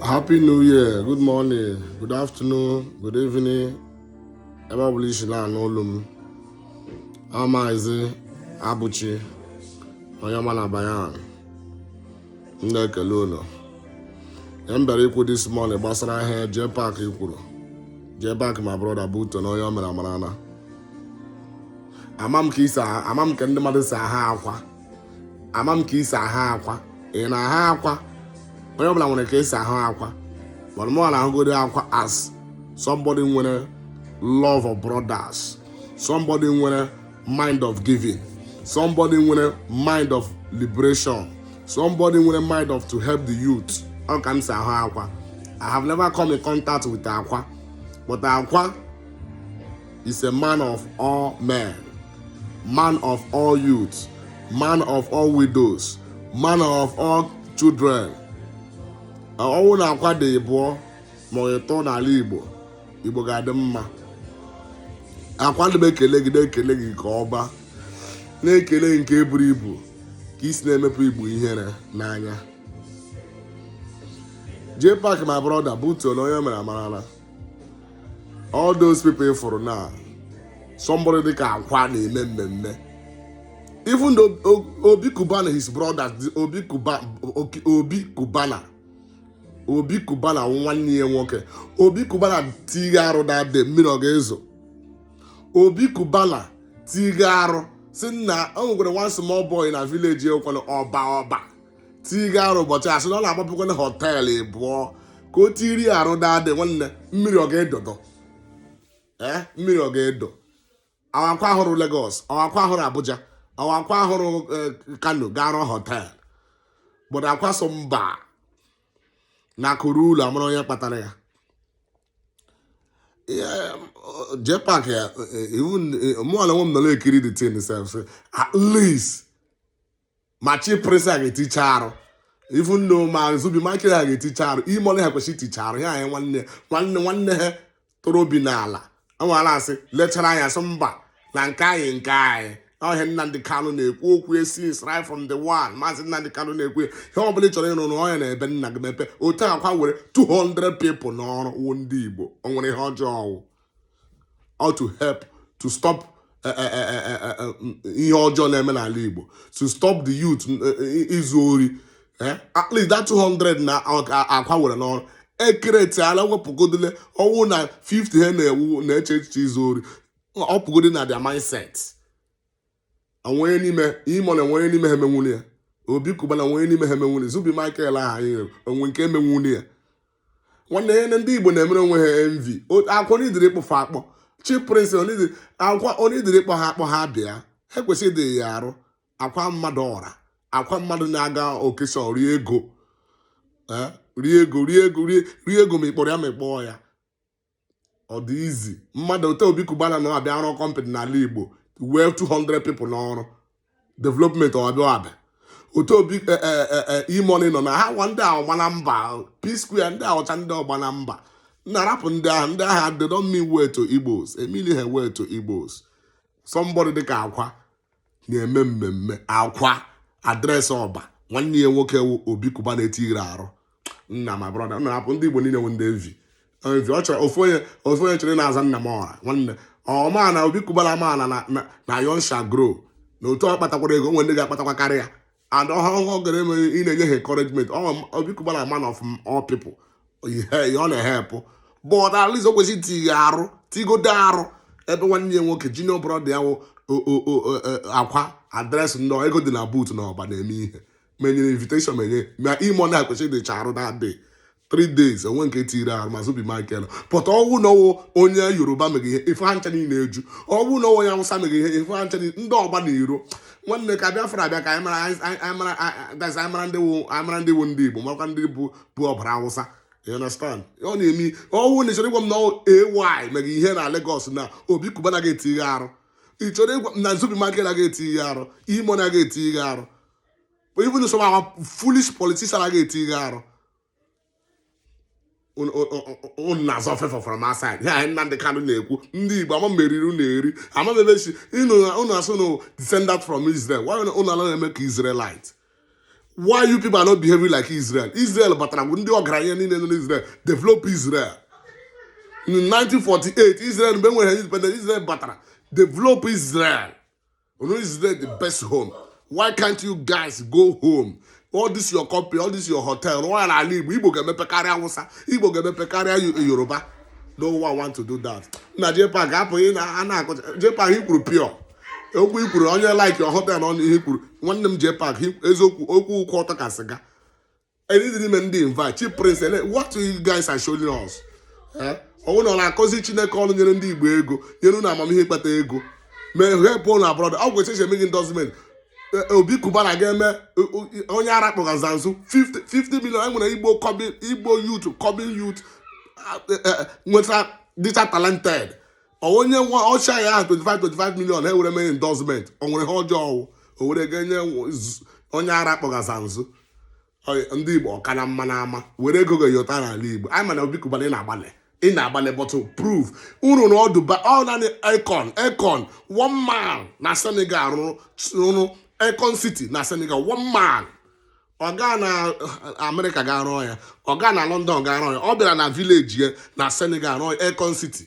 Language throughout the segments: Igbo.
Happy New Year, good morning, good afternoon, good evening. Ebe ọ bụla i si na-anụ olu m. Maazị Abụchi, onye ọma na Bayan. M na-ekele unu. Ihe m bịara ikwu this morning gbasara ihe Jpac kwuru. Jpac my brother butuo na onye o mere amarana. Ama m ka i si ahụ- ama m ka ndị mmadụ si ahụ Akwa. ama m ka i si ahụ akwa ị na-ahụ akwa onye ọ bụla nwere ka o si ahụ akwa but mụwa na-ahụgodi akwa as somebody nwere love of brothers somebody nwere mind of giving somebody nwere mind of liberation somebody nwere mind of to help the youth ọ ka m si ahụ akwa i have never come in contact with akwa but akwa is a man of all men man of all youths man of all widows man of all children ọ wụ na akwa dị ịbụọ ma ọ ịtọ n'ala igbo igbo ga-adị mma akwa ana m ekele gị na-ekele gị nke ọma na-ekele gị nke buru ibu ka i si na-emepụ igbo ihere n'anya jpac my brother butuo na onye o mere amarala all those people fụrụ na somebody dịka akwa na-eme mmemme even obi cubana his brother bụ obi cubana nwanne ya nwoke obi cubana tiga arụ daddy mmiri ọ ga-ezo obi cubana tiga arụ sị na o nwekwara one small boy na village ekwere ọba ọba tiga arụ ụbọchị a sị na ọ na-agbapụkwanụ hotel ịbụọ ka o tiri arụ daddy nwanne mmiri ọ ga-edo do ee mmiri ọ ga-edo ọ wụ akwa ahụrọ Lagos ọ wụ akwa ahụrọ Abuja ọ wụ akwa ahụrọ eh, Kano ga-arụ hotel but akwa sị mba na akụ ruo ụlọ amara onye kpatara ya jpac ya iwu mụọla nwe m nọrọ ekiri the thing sef at least ma chief priest ha ga-eticha arụ even ma zubby michael ha ga-eticha arụ e-money ha kwesịrị iticha arụ ya anyị nwanne nwanne nwanne ha toro obi n'ala enwere asị lechara anya sị mba na nke anyị nke anyị ọ ihe Nnamdị Kanụ na-ekwu okwu esi right from day one maazị Nnamdị Kanụ na-ekwu ihe ọ bụla ị chọrọ ịrụ rụọ ya na ebe nna gị mepe otu akwa were 200 people n'ọrụ wụ ndị Igbo o nwere ihe ọjọọ ọ wụ or to help to stop eh, eh, eh, ihe ọjọọ na-eme n'ala Igbo to stop the youth izu ori at least that 200 na akwa were n'ọrụ e createala wepụgodole ọ wụrụ na 50 ha na-ewu na-eche echiche izu ori ọ pụgodi na their mindset onye n'ime E-Money onye n'ime ha emenwuli ya Obi Cubana onye n'ime ha emenwuli Zubby Michael aha anyị rere onwe nke emenwuli ya nwanne ihe ndị igbo na-emere onwe ha envy akwụkwọ n'idiri ịkpụfa akpọ Chief Priest akwa onye idiri ịkpọ ha akpọ ha bịa ha kwesịrị itiye arụ akwa mmadụ ọra akwa mmadụ na-aga occasion rie ego rie ego rie ego rie ego ma ịkpọrọ ya ma ịkpọọ ya ọ dị easy mmadụ otu Obi Cubana na-abịa arụ company n'ala igbo wee 200 people n'ọrụ development ọbịa abịa otu obi e, e, e, E-Money nọ na ha nwa ndị ọgbana mba p square ndị ahụcha ndị ọgbana mba nna rapụ ndị ahụ ndị agha they don't mean well to Igbos e meanli ha well to Igbos somebody dịka akwa na-eme mmemme akwa address ọba nwanne ya nwoke wụ Obi Cubana etiri arụ nna my brother nna hapụ ndị igbo niile nwe ndị envy envy ọ chọrọ ofu onye ofu onye chọrọ na-aza nna m ọra nwanne ọma na Obi Cubana amaala na na na young shall grow na otu ọ kpatakwara ego nwe ndị ga-akpatakwa karịa and ọhụrụ ọ gara eme ị na-enye ha encouragement Obi Cubana man of all people ihe ọ na-ehelp but at least o kwesịrị tighe arụ tigodo arụ ebe nwanne ya nwoke junior brother ya wụ akwa address nnọọ ego dị na boot na ọba na-eme ihe ma e nyere invitation ma e nyeghị ma E-Money kwesịrị ticha arụ na adịghị three days o nwe nke tiri ahụ ma Zubby Michael but ọ wụ n'ọ wụ onye yoruba meghee ife ha ncha niile eju ọ wụ n'ọ wụ onye awụsa meghee ife ha ncha ndị ọgba na iro nwanne ka bịa fara abịa ka anyị mara ndị wụ anyị mara ndị wụ ndị igbo makwa ndị bụ bụ ọbara awụsa you understand ọ na-eme ọ wụ na ị chọrọ ịgwa m na AY meghee ihe na Lagos na Obi Cubana anaghị etiye arụ ị chọrọ ịgwa m na Zubby Michael naghị etiye arụ E-Money anaghị etiye arụ but even some our foolish politician agaghị etiye arụ unu na-azọ ọfefe from outside ya anyị Nnamdi Kanu na-ekwu ndị Igbo amamihe riri unu eri ama m ebe si unu asụ na descendant from Israel why unu anaghị eme ka Israelite why you people are not behaving like Israel Israel batara bụ ndị ọgaranya niile nọ n'Israel develop Israel in 1948 Israel mgbe e nwere independent Israel batara develop Israel Unu is there the best home. Why can't you guys go home? All this your company, all this your hotel, rụọ ya n'ala Igbo, Igbo ga-emepe karịa Awụsa, Igbo ga-emepe karịa Yo- Yoruba. No one want to do that. Na JPAC apụ ị na a na-akụ JPAC i kwuru pure. Okwu i kwuru onye like your hotel na ọnụ ihe i kwuru. Nwanne m JPAC i- eziokwu okwu gị kwụ ọtọ ka sịga. Elidiri ime ndị invite Chief Priest ele what you guys are showing us Eh? ọ wụ unu na-akụzi chineke ọrụ nyere ndị igbo ego nyere unu amamihe ịkpata ego ma help unu abroad ọ gwụcha eche emeghị endorsement Obi Cubana ga-eme eh, eh, onye ara kpọga Zazu 50 50 million anyị nwere igbo kọbi- igbo youth coming youth ah, eh, eh, nweta dịcha talented onye nwa ọcha ya ahụ 25 25 million ewere mee endorsement o nwere ihe ọjọọ ọ wụ o were ga nye onye ara kpọgaza nzu ndị igbo ọ ka na mma na ama were ego ga yọta n'ala igbo anyị mana Obi Cubana ị na-agbalị ị na-agbalị but prove unu na ọdụ ba ọ naanị Akon Akon one man na senegal rụrụ rụrụ Akon city na senegal one man ọ gaa na America ga-arụ ya ọ gaa na london ga-arụ ya ọ bịara na village ya na senegal rụọ Akon city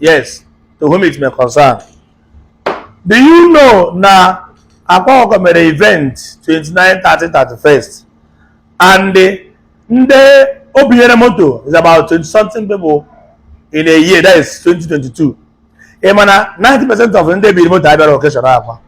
yes to whom it may concern do you know na akwa ọkụkọ mere event 29 30 31st and ndị o binyere moto is about 20 something people in a year that is 2022 ị ma na 90 percent of ndị e biri moto abịarọ occasion akwa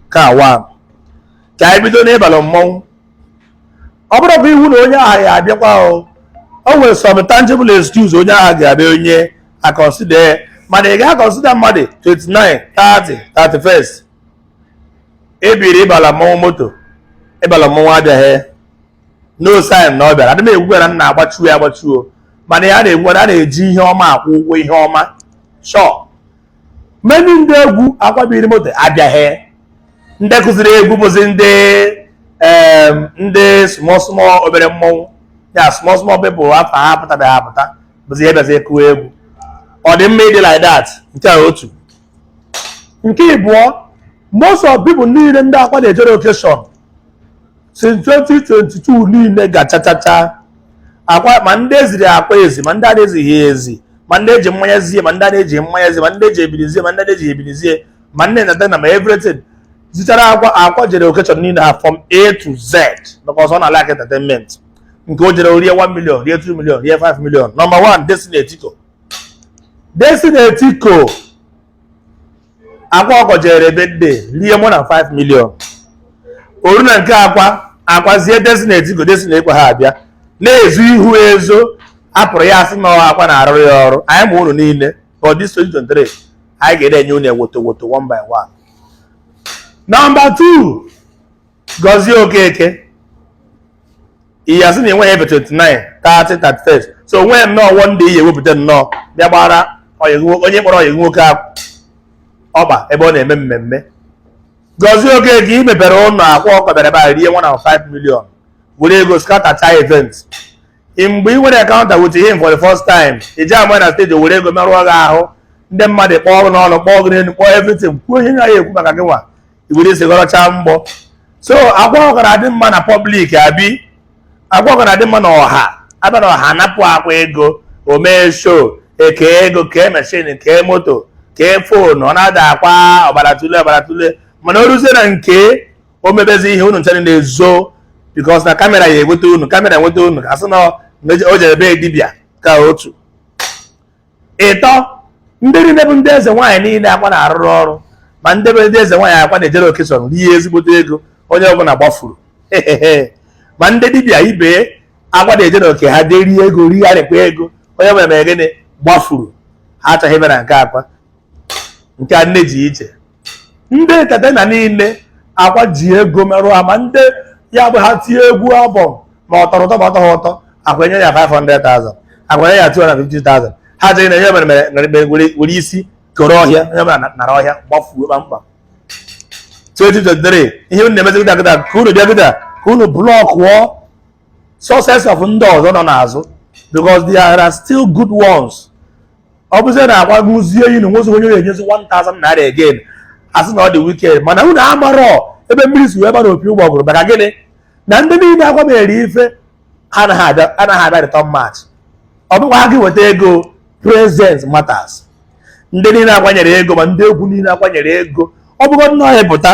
ka one ka anyị bido n'ịbalụ mmọnwụ ọ bụrọkwa iwu na onye ahụ ya-abịakwa o o nwere some tangible excuse onye ahụ ga-abụ onye a consider ya mana ị ga-aconsider mmadụ 29 30 31st e biri ịbala mmọnwụ moto ịbala mmọnwụ abịaghị no sign na ọ bịara adị m egwu na nna agbachuo ya agbachuo mana ya na-ekwu na a na-eji ihe ọma akwụ ụgwọ ihe ọma sure many ndị egwu akwa biri moto abịaghị ndị kụziri egwu bụzi ndị ndị small small obere mmọnwụ ya small small people afọ ha apụtabeghị apụta bụzi ihe bịazi kụwa egwu ọ dị mma ịdị like that nke a otu nke ịbụọ most of people niile ndị akwa na-ejere occasion since 2022 niile gachachacha akwa ma ndị eziri akwa ezi ma ndị na-ezighị ezi ma ndị eji mmanya zie ma ndị na-eji mmanya zie ma ndị eji ebiri zie ma ndị na-eji ebiri zie ma nne na dana ma everything zichara akwa akwa jere occasion niile ha from a to z because ọ na-like entertainment nke o jere rie 1 million rie 2 million rie 5 million number 1 Destiny Etiko Destiny Etiko akwa ọkụkọ jere birthday rie more than 5 million o ru na nke akwa akwa zie Destiny Etiko Destiny Etiko ha abịa na-ezo ihu ezo apụrụ ya a sị na akwa na-arụrụ ya ọrụ anyị ma unu niile but this 2023 anyị ga-ede enye unu wotowoto one by one. Number two, Gozie Okeke ị ya-asị na i nweghị ebe 29 30 31 so onweghị nnọọ wọ ndị ihe ewepụta nnọọ bịa gbara onye kpọrọ ọyị nwoke ọkpa ebe ọ na-eme mmemme Gozie Okeke i mepere ụlọ akwa ọkụkọ bịara bịa rie 1.5 million were ego scattercha event mgbe ị nwere encounter with him for the first time i ji ama na stage were ego merụọ gị ahụ ndị mmadụ kpọọ gị n'ọnụ kpọọ gị n'elu kpọọ everything kwuo ihe na ya ekwu maka gị nwa ibuli isi gọrọchaa mgbọ so akwa ọgara dị mma na pọblik abi akwa ọgara dị mma na ọha abịa na ọha napụ akwa ego o mee sho e kee ego kee meshin kee moto kee fonu ọ na-ada akwa ọbara tule ọbara tule mana o ruzie na nke o mebezi ihe unu ncha na-ezo bikos na kamera ya enweta unu kamera enweta unu asị na o jere be dibịa ka otu ịtọ ndị niile bụ ndị eze nwaanyị niile akwa na-arụrụ ọrụ ma ndị be ndị eze nwaanyị akwa na-ejere okeshọn rie ezigbote ego onye ọbụla gbafuru ma ndị dibịa ibe akwa na-ejere oke ha jee rie ego righarịkwa ego onye ọbụla mere gịnị gbafuru ha achọghị ịbịa na nke akwa nke a nne ji iche ndị entatena niile akwa ji ego merụ ama ndị ya bụ ha tie egwu abụ ma ọ tọrọ ụtọ ma ọ tọghị ụtọ akwa enye ya 500,000 akwa enye ya 250,000 ha jee na enye mere mere mere mere were were isi koro ọhịa onye ọbụla na- nara ọhịa gbafuo kpamkpam 2023 ihe unu na-emezi gịda gịda ka unu bịa gịda ka unu blọkụọ success of ndị ọzọ nọ n'azụ because there are still good ones ọ bụzie na akwa ekwuzie na o nwezi onye na-enyezi 1000 naira again asị na ọ dị wicked mana unu amarọ ebe mmiri si wee bara opi ụgbọgụrụ maka gịnị na ndị niile akwa mere ife anaghị abịa anaghị abịa return match ọ bụkwa ha gị weta ego present matters ndị niile akwa nyere ego ma ndị egwu niile akwa nyere ego ọ bụgo nnọọ ịpụta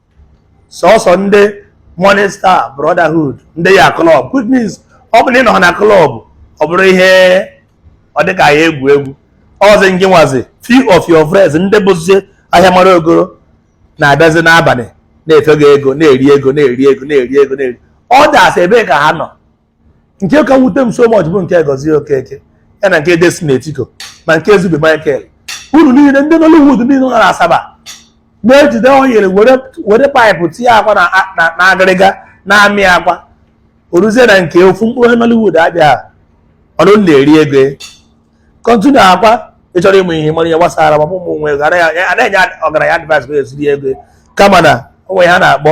sọsọ ndị Morning Star Brotherhood ndị ya klọb which means ọ bụrụ na ị nọghị na klọb ọ bụrụ ihe ọ dịka ya egwu egwu ọzi ngị nwazi few of your friends ndị bụzi ahịa mara ogoro na-abịazi n'abalị na-efe gị ego na-eri ego na-eri ego na-eri ego na-eri ọ dasị ebee ka ha nọ nke ka wute m so much bụ nke Gozie Okeke ya na nke Destiny Etiko ma nke Zubby Michael unu niile ndị Nollywood niile nọ na Asaba na-ejide oyiri were paịpụ tinye akwa na agịrịga na-amị akwa o ruzie na nke ofu mkpụrụ Nollywood abịa unu na-eri ego kọntinu akwa ị chọrọ ịmụ ihe mara ihe gbasara ma ụmụ nwe ego anaghị enye ọgaranya advice ka e si eri ego kama na onwe ha na-akpọ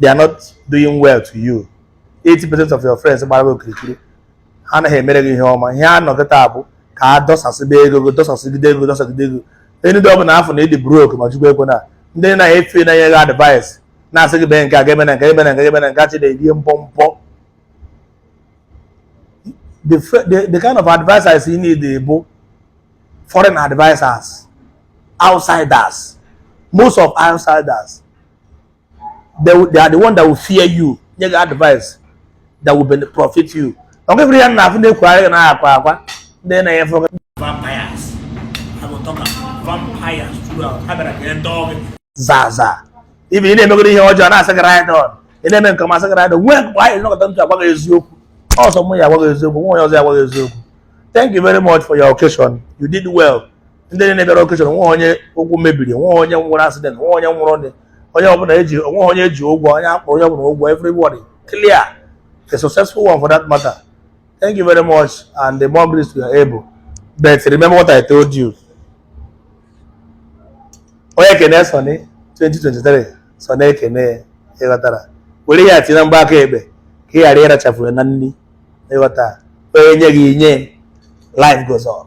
they are not doing well to you 80% of your friends gbara gị okirikiri ha anaghị emere gị ihe ọma ihe ha nọ kịta bụ ka a dọsasịba ego gị dọsasịgide ego dọsasịgide ego onye ndị ọbụla afụ na ị dị brok ma chukwu ekwena ndị na-efe na-enye gị advice na-asị gị bee nke a ga-eme na nke eme na nke eme na nke achị na-ebie mpọ mpọ the, the, the kind of advisors you need bụ foreign advisors outsiders most of outsiders they, they are the one that will fear you nye gị advice that will benefit profit you ọ gịbụrụ ya na afụ na-ekwugharị gị na akwa akwa ndị na-enye fọ vampires I will talk about vampires throughout ha bịara ka ndị ọgụ zaa zaa even ị na-emegoro ihe ọjọọ na-asị gị ride on ị na-eme nke ọma a sị gị ride on nwee mgbe anyị nọkọta ntụ agwa gị eziokwu ọ sọ mụ ya agwa gị eziokwu nwe onye ọzọ ya agwa gị eziokwu thank you very much for your occasion you did well ndị niile bịara occasion nwe onye ụkwụ mebiri nwe onye nwere accident nwe onye nwụrụ ndị onye ọbụla eji o nwe onye e ji ụgwọ onye a kwụrụ onye ọbụla ụgwọ everybody clear a successful one for that matter thank you very much and the more grease to your elbow but remember what I told you onye kene Sunny 2023 Sunny ekene ịghọtara were ya tinye na mgba aka ekpe ka ị ghara ịrachafu na nri ịghọta onye nye gị nye life goes on